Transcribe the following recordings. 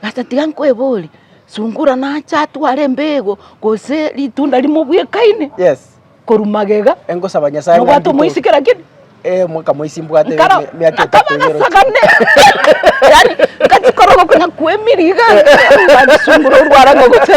Gasa tiga nkwebore, sungura nache atware embeego, gose ritunda rimo bwekaine korwa magega, nobwate omoisi kera kende? Nkara, akaba agasagane, yaani nkachikora obokonyaku bw'emiriga, nkasungura orwara ngogocha.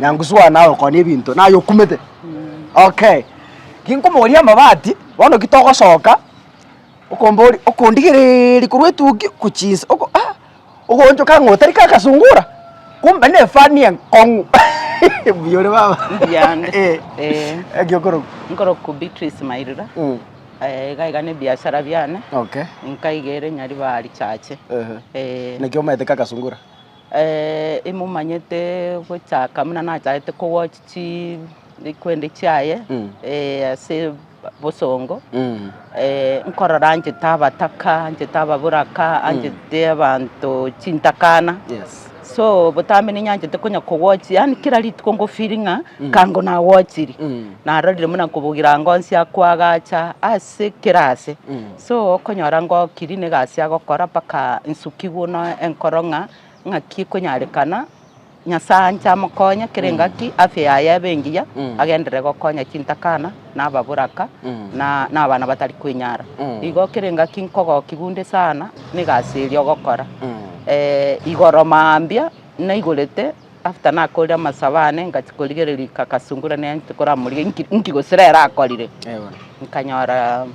Nyangusuana naye okone ebinto naye okumete okay ginkomoria amabati bono ki togosoka okombori okondigereeria korwa etugi gochia inse oko ah ogochoka ng'a otari ka kasungura kumbe ne efani enkong'u buya ore baba eh gaki okoroku. Nkoroku Beatrice Mairura iga iga ne ebiasara biane nkaiga ere Nyaribari chache eh. Naki omaete ka kasungura? imomanyete gochaka buna nachagete kogochi chi rikwende chiaye ase bosongo, nkorora anchete abataka, anchete ababoraka, anchete abanto chintakana, so botambe ninyanchete konya kogochia yaani kera rituko ngo feel ng'a kango nagochiri, narorire buna kobugira ngosia koagacha ase. ase ekerasi, so okonyora ng'a okiri na egasi ya gokora mpaka nsuki buna enkoro ng'a ng'aki ekonyarekana, Nyasae anche amokonye kera engaki afya yaye ebe engiya, agenderere gokonya chintakana, na ababoraka, na na abana batari kwenyara. Igo kera engaki nkogokia bunde sana na egasi eria ogokora. igoro mambia naigorete. After nakorire amasabo ane ngachi korigereria rika kasungura ne anti koramorigia inki inki gose rero akorire Ewa. nkanyora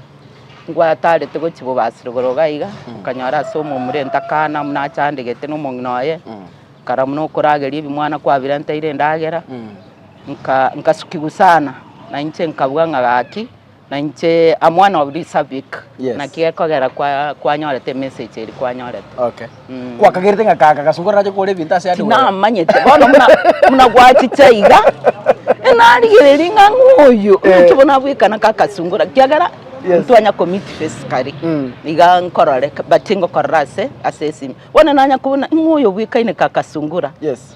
ngwatarete gochi bobasire igoro iga iga nkanyora ase omomurente akana muna achandegete na omong'ina oye Mm. kara muna okorageria ebimwana kwabire ntaire endagera Mm. nka nkasukigwa sana na inche nkabua ng'a gaki Na inche am one of these Sabic. Yes. Naki gekogera kwa kwanyorete message eri kwanyorete. Okay. Mm. Kwakagerete ng'a kaka kasungura nache kore ebinto ase ande waya. Tinamanyete bono muna muna gwachicha iga enarigereria ng'a ng'oyo Eh. omochie bono abwekana ka kasungura kiagera Yes. ntwanya commit physically Mm. iga nkorore but ngokorora ase ase esimi bono nanya kobuna ng'oyo obwekaine ka kasungura Yes.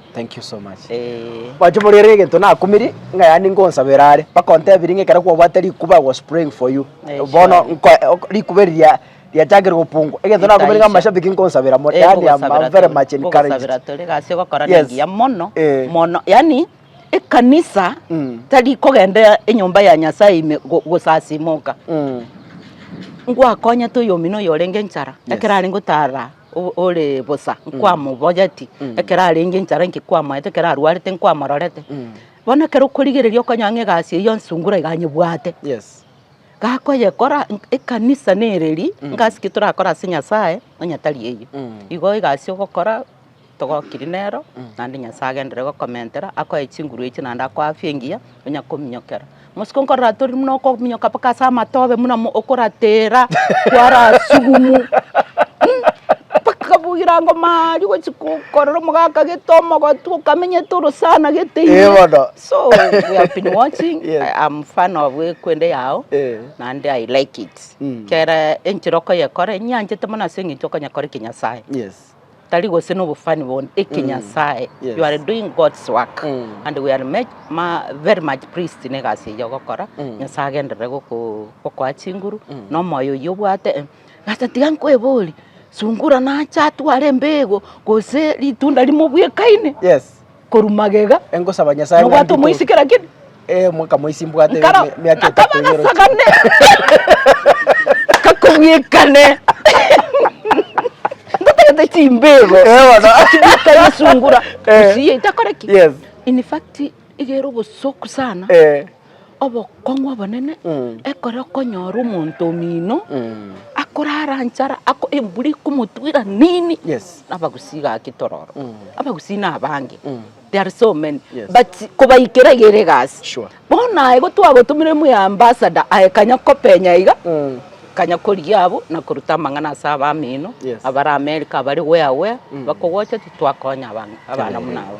Thank you so much. Eh. Mache murere egento nakumiri ng'a yaani ngonsabera are bakontebirie ng'a ekero kwabwate rikuba I was praying for you Eh, bono surely. nko ok- rikuba eri ria riachakire gopungwa egento nakumire ng'a Ritaisha. amashabiki nkonsabera mono Eh, yaani I'm, nkogosabera I'm very tore, much encouraged nkogosabera tore gasi ogokora Yes. nengiya mono Eh. mono yani ekanisa Mm. tari kogenda enyomba ya nyasaye ime go- gosasimoka Mm. ngwakonyete oyomino oyo orenge enchara Yes. ekero arenge otara ore bosa nkwamobogeti, ekero arenge enchara inki kwamoete, ekero arwarete nkwamororete. Bono ekero okorigereria okonyora ng'a egasi eyio ya nsungura iga anyebwate, gakoyekora, ekanisa nere eria, ngasi ki torakore ase Nyasae onye tari eyio. Igo egasi ogokora togokiri nero, naende Nyasae agenderere gokomentera, akoe chinguru echio naende akoe afya engiya. Onya kominyokera mosiko nkoratori buna okominyoka mpaka ase amatobe buna mo- okoratera kwarasugumu Mm, mpaka bwerango mari gochi ko- korora omogaka gete omogotu okamenyete orosana gete ime. Eh, bono. So, we have been watching, Yes. I am fan of ekwende yao Eh. naende I like it Mm. kera enchera okoyekora nyanchete mono ase eng'encho okonyekora ekinyasae Yes. Tari gose nobofani bone ekinyasae Yes. you are doing God's work Mm. and we are much, ma, very much pleased na egasi eyio ogokora Mm. nyasae agenderere goko- gokoa chinguru Mm. na omoyo oyio obwate eh, ase tiga nkwebori sungura nache atware embego gose ritunda rimo bwekaine yes korwa magega, Engosaba Nyasaye ng'a nobwate omoisi nditoke. kera kende. Eh, mwaka moisi mbwate Nkara, mi- miaka etato nakaba igoro. gasagane, kakobwekane, ngatagete chimbego, Eh, bono. chibwekane esungura, Eh. gusii eitakoreki. Yes. In fact, igere obosoku sana, Eh. obokong'u obonene, ekero okonyora omonto omino akorara nchara, ako- embura ekomotwera nini, Yes. abagusii gaki tororo, abagusii na abange, they are so many, Yes. but kobaikera iga ere egasi. Sure. Bono aye igo twagotomeire muna ambassador aye kanya kopenya iga, kanya korigia abwo na koruta amang'ana ase abamino, Yes. abare America abare where where, bakogocha titwakonya abana abana buna aba.